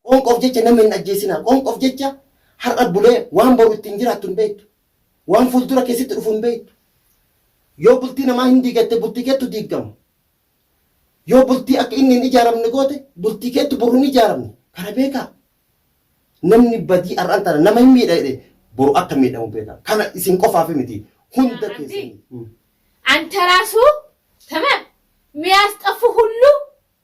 Qoonqoof jecha nama hin ajjeesinaa. Qoonqoof jecha har'a bulee waan boru ittiin jiraattu hin beektu. Waan fuuldura kee sitti dhufu hin beektu. Yoo bultii namaa hin diigatte bultii keettu diigama. Yoo bultii akka inni hin ijaaramne goote bultii keettu boru hin ijaaramne. Kana beekaa. Namni badii har'aan tana nama hin miidha jedhe boru akka miidhamu beekaa. Kana isin qofaaf miti hunda keessanii. Antaraasu tamam miyaasxaffu hullu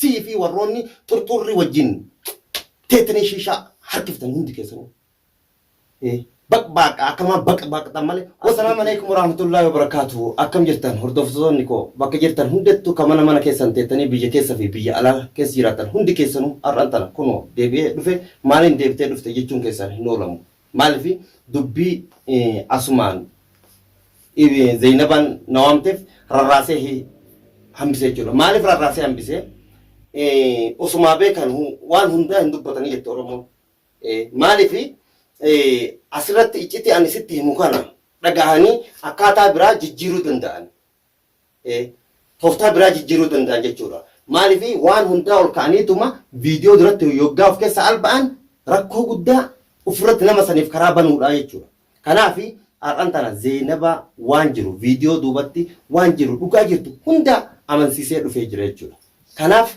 Sii fi warroonni xurxuurri wajjin teettanii shiishaa harkiftan hundi keessanuu. Eh, Baqbaaqa akkamaa baqbaaqxan malee. Assalaamu alaikum warahmatullahi wabarakaatu. Akkam jirtan hordoftoonni koo bakka jirtan hundattuu ka mana mana keessan teettanii biyya keessa fi biyya alaa keessa jiraattan hundi keessanuu har'an tana kunoo deebi'ee dhufe maaliin deebitee dhufte jechuun keessan hin oolamu. Maalif dubbii Asumaan Zeenabaan na waamteef rarraasee hambise jechuudha. Maalif rarraasee hambise? Osumaa beekan waan hundaa hin dubbatanii jette Oromoon. Maalif asirratti iccitii ani sitti himu kana dhagahanii akkaataa biraa jijjiiruu danda'an. Ee. Tooftaa biraa jijjiiruu danda'an jechuudha. Maaliif waan hundaa ol ka'aniituma viidiyoo duratti yoggaa of keessa alba'an rakkoo guddaa ofirratti nama saniif karaa banuudha jechuudha. Kanaaf har'an tana Zeenaba waan jiru viidiyoo duubatti waan jiru dhugaa jirtu hundaa amansiisee dhufee jira jechuudha. Kanaaf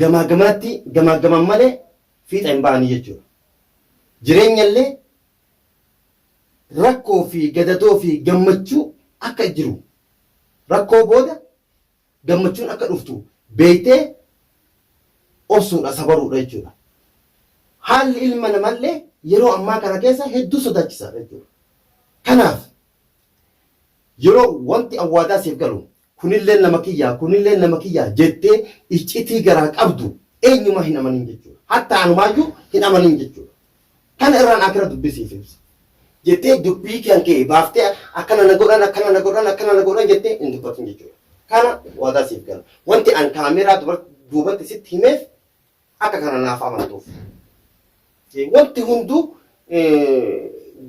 Gamaa gamaatti gamaaggaman malee fiixa hin ba'anii jechuudha. Jireenyallee rakkoo fi gadadoo fi gammachuu akka jiru, rakkoo booda gammachuun akka dhuftu beektee obsuudha, sabaruudha jechuudha. Haalli ilma namallee yeroo ammaa kana keessa hedduu sodaachisaadha jechuudha. Kanaaf yeroo wanti awwaadaa siif galu, kunilleen nama kiyyaa, kunilleen nama kiyyaa jettee iccitii garaa qabdu eenyumaa hin amanin jechuudha. Hattaa anumaayyuu hin amanin jechuudha. Kana irraan akira dubbii siif ibsa. Jettee dubbii kan kee baaftee akkana na godhan, akkana na godhan, akkana na godhan jettee hin dubbatin jechuudha. Kana waadaa siif gala. Wanti an kaameeraa duubatti sitti himeef Akka kana naaf amantuuf. Wanti hunduu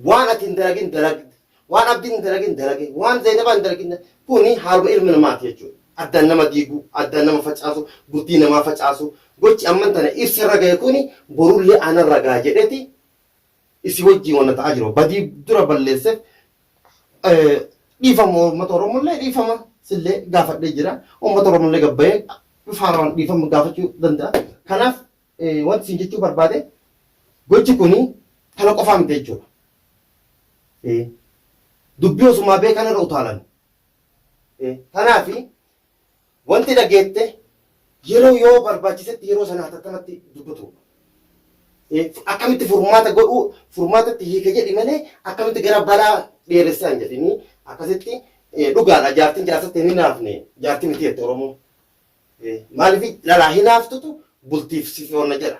waan ati hin dalagin dalagde, waan abdiin hin dalagin dalage, waan Zaynabaa hin dalagin kuni haaluma ilma namaati jechuudha. Addaan nama diigu, addaan nama facaasu, bultii namaa facaasu, gochi amman tana ibsa irra gahe kuni borullee anarra gaha jedheti Isii wajjiin wanna ta'aa jiru badii dura balleesseef dhiifama uummata Oromollee dhiifama sillee gaafadhee jira. Uummata Oromollee gabbayee faaraan dhiifama gaafachuu danda'a. Kanaaf wanti isin jechuu barbaade gochi kuni kana qofaa miti jechuudha. Dubbii osumaa beekan irra utaalan. Kanaaf Wanti dhageette yeroo yoo barbaachisetti yeroo sana hatattamatti dubbatu. Akkamitti furmaata godhuu furmaatatti hiika jedhi malee akkamitti gara balaa dheeressee hin jedhinii akkasitti dhugaadha jaartiin jaarsatti hin hinaafne jaartii miti jette Oromoo. Maaliif lalaa hinaaftutu bultiif si foonna jedha.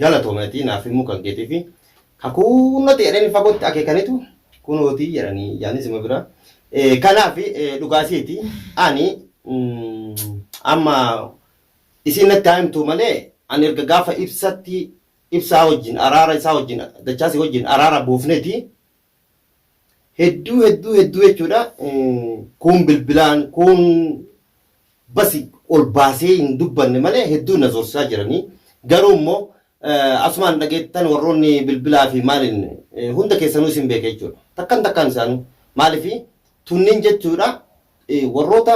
Galatoomi atii naaf himuu kan keetifi ka kuunnoti jedhani fagotti akekanitu kunooti jedhani yaani sima bira kanaafi dhugaa isiiti ani amma isiin natti haa himtuu malee ani erga gaafa ibsatti ibsaa wajjin araara isaa wajjin dachaasi wajjin araara buufneti hedduu hedduu hedduu jechuudha kuun bilbilaan kuun basi ol baasee hin dubbanne malee hedduu na zorsisaa jiranii garuu immoo asumaan dhageettan warroonni bilbilaa fi maaliin hunda keessanuu isin beeka jechuudha takkan takkaan isaanuu maaliif tunniin jechuudha warroota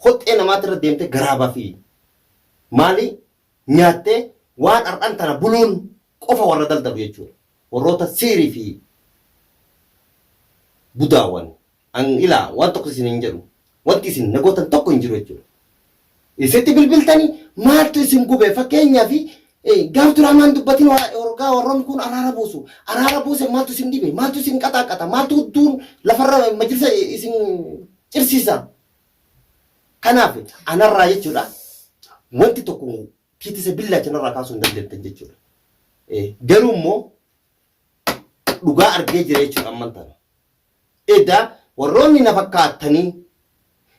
hoxxee namaatirra deemte garaabaa fi maali nyaattee waan ar'an tana buluun qofa warra daldalu jechuudha. Warroota siiri fi budaawan an ilaa waan tokko isin hin jedhu. Wanti isin na gootan tokko hin jiru jechuudha. Isitti bilbiltani maaltu isin gube fakkeenyaa fi gaaf duraa maan dubbatin wargaa warroon kun araara buusu. Araara buuse maaltu isin dhibe maaltu isin qaxaaqqata maaltu hudduun lafarra majlisa isin cirsiisa. Kanaaf anarraa jechuudha wanti tokko kitisa billaacha narraa kaasuu hin dandeettan jechuudha. Garuu immoo dhugaa argee jira jechuudha amman tana. Edaa warroonni na fakkaattanii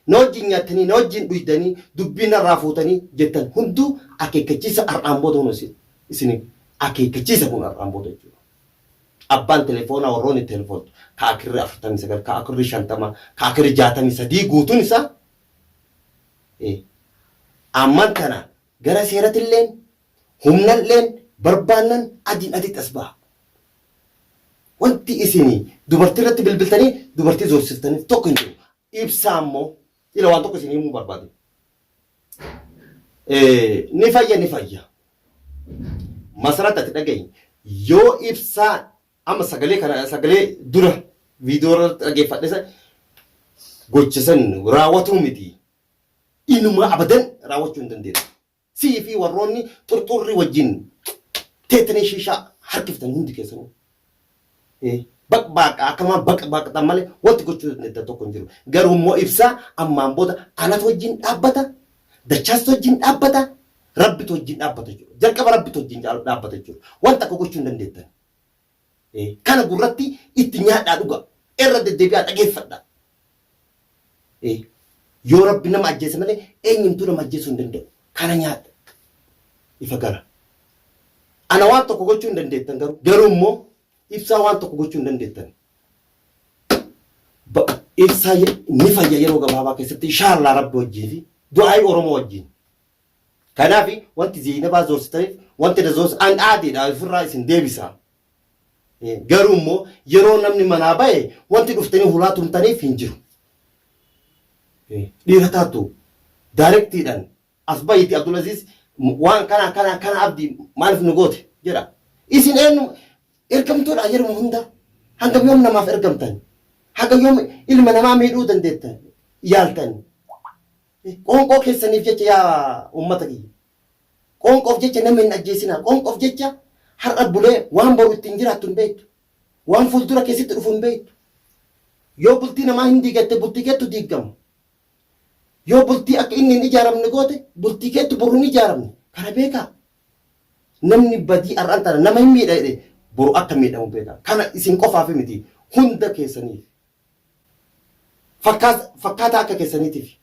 na wajjin nyaattanii na wajjin dhuydanii dubbii narraa fuutanii jettan hunduu akeekkachiisa har'aan booda kun isiniif akeekkachiisa kun har'aan booda jechuudha. Abbaan telefoonaa warroonni telefoontu ka akirri 49, ka akirri 50, ka akirri 63 guutuun isaa ee, amman tana gara seeratilleen, humnalleen barbaannan adiin aditti as baha. Wanti isin dubartii irratti bilbiltanii dubartii zoorsiftaniif tokko hin jiru. ibsaa immoo ila waan tokko isin himuu barbaade. Eh, Ni fayya ni fayya. Masarat ati dhagahi yoo ibsaa amma sagalee kana sagalee dura viidiyoo irratti dhageeffadhe san gocha san raawwatuu miti. Inuma abadan raawwachuu hin dandeessu. Sii fi warroonni xurxuurri wajjin teettanii shiishaa harkiftan hundi keessanuu. Ee, baqbaaqaa akkamaa baqbaaqxan malee wanti gochuu dandeettan tokko hin jiru. Garuu immoo ibsaa ammaan booda anatu wajjin dhaabbata, dachaasitu wajjin dhaabbata, rabbitu wajjin dhaabbata jechuudha. Jalqaba rabbitu wajjin dhaabbata jechuudha. Wanta akka gochuu hin dandeettan. Kana gurratti itti nyaadhaa dhugaa. Irra deddeebi'aa dhageeffadhaa. Yoo Rabbi nama ajjeese malee eenyumtuu nama ajjeesuu hin danda'u. Kana nyaadha. Ifa gara. Ana waan tokko gochuu hin dandeettan garuu. Garuu immoo ibsaa waan tokko gochuu hin dandeettan. Ibsaa ni fayya yeroo gabaabaa keessatti inshaallaa Rabbi wajjin fi du'aa'ii Oromoo wajjin. Kanaafi wanti Zeeynabaa zoorsitaniif wanti na zoorse an aadiidha ifirraa isin deebisa. Garuu immoo yeroo namni manaa bahe wanti dhuftanii hulaa tumtaniif hin jiru. Dhiira taatu daarektiidhaan as bahiiti Abdulaziiz waan kana kana kana abdi maaliif nu goote jedha. Isin eenyu ergamtuudha yeruma hunda hangam yoom namaaf ergamtan? Haga yoom ilma namaa miidhuu dandeettan yaaltan? Qoonqoo keessaniif jecha yaa ummata kiyya. Qoonqoof jecha nama hin ajjeesinaa. Qoonqoof jecha har'a bulee waan boru ittiin jiraattu hin beektu. Waan fuuldura kee sitti dhufu hin beektu. Yoo bultii namaa hin diigatte bultii keettu diiggama. Yoo bultii akka inni hin ijaaramne goote bultii keettu boru hin ijaaramne. Kana beekaa. Namni badii har'an tana nama hin miidha jedhe boru akka miidhamu beekaa. Kana isin qofaaf miti hunda keessaniif. Fakkaataa akka keessaniitiifi.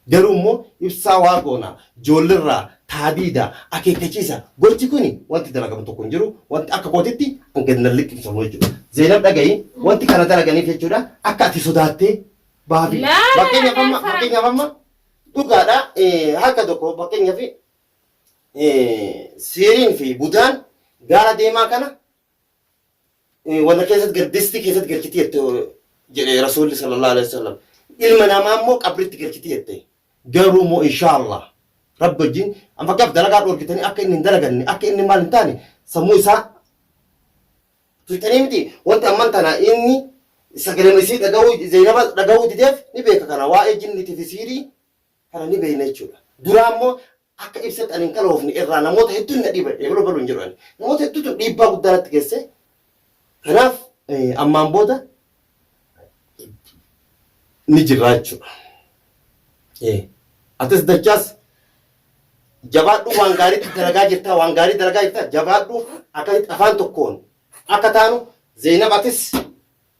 Garuu immoo ibsaa waa goona, joollerraa, taadiida, akeekkachiisa. Gochi kuni wanti dalagamu tokko hin jiru. Wanti akka kootitti an gad nan liqimsamu jechuudha. Zeenab dhaga'i, wanti kana dalaganiif jechuudha akka ati sodaattee baafi. Fakkeenyaaf amma, fakkeenyaaf amma dhugaadha harka tokko fakkeenyaaf siiriin fi budaan gaara deemaa kana warra keessatti gal distii keessatti galchiti jette jedhe rasuulli sallallahu alaihi wasallam ilma namaa immoo qabritti galchiti jette garuu moo inshaallah rabbi wajjin amma fakkeenyaaf dalagaa dhorkitanii akka inni hin dalaganne akka inni maal hin taane sammuu isaa tuqxanii miti wanti amman tana inni sagalee isii dhaga'uu zeenaba dhaga'uu dideef ni beeka kana waa'ee jinnitii fi siirii kana ni beekna jechuudha duraa immoo Akka ibsetti ani hin qanoofne irraa namoota hedduun na dhiiba ebaloo baluu hin jedhu ani. Namoota hedduutu dhiibbaa guddaa natti geesse. Kanaaf ammaan booda ni jirraa jechuudha. Atis dachaas jabaadhu waan gaariitti dalagaa jirtaa waan gaarii dalagaa jirtaa jabaadhu akkasitti afaan tokkoon akka taanu Zeenab atis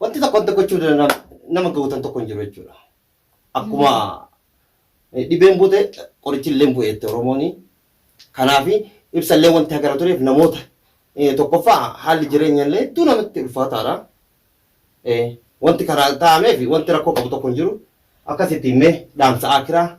Wanti tokko wanta gochuu danda'an nama gootan tokko hin jiru jechuudha. Akkuma eh, dhibeen buute qorichi illee bu'e jette Oromooni. Kanaaf ibsa illee wanti hagara tureef namoota eh, tokkoffaa haalli jireenya illee hedduu namatti ulfaataadha. Eh, Wanti karaa taa'ameef wanti rakkoo qabu tokko hin jiru. Akkasitti mee dhaamsa akiraa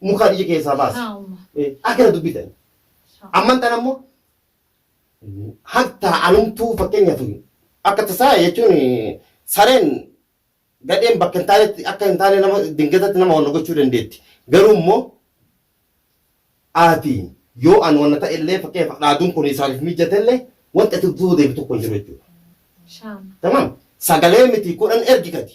mukaa dhija keessaa baase. Haa umma. Eh, Akkana dubbii ta'e. Amman tan ammoo hatta anumtuu fakkeenyaaf akka tasaa jechuun eh, sareen gadheen bakka hin taanetti akka hin taane nama dingatatti nama wanna gochuu dandeetti. Garuu immoo ati yoo an wanna ta'e illee fakkeenyaaf dhaaduun kun isaaniif mijate illee wanta itti duuba deebi tokko hin jiru jechuudha. Shaama. Tamam. Sagalee miti kudhan ergi gadi.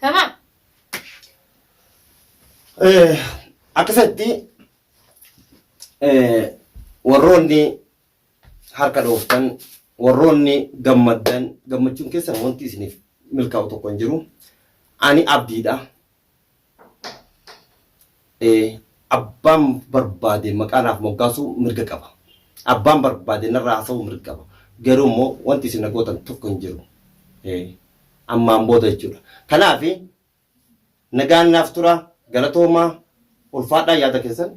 Tamam. Akkasatti warroonni harka dhooftan warroonni gammaddan gammachuun keessan wanti isiniif milkaa'u tokko hin jiru. Ani abdiidha. Abbaan barbaade maqaa naaf moggaasuu mirga qaba. Abbaan barbaade narraa haasa'uu mirga qaba. Garuu immoo wanti isin na gootan tokko hin jiru. Ammaan booda jechuudha. Kanaaf nagaan naaf tura galatoomaa ulfaadhaa yaada keessan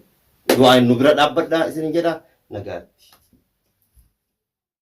du'aayin nu bira dhaabbadhaa isinin jedha nagaatti.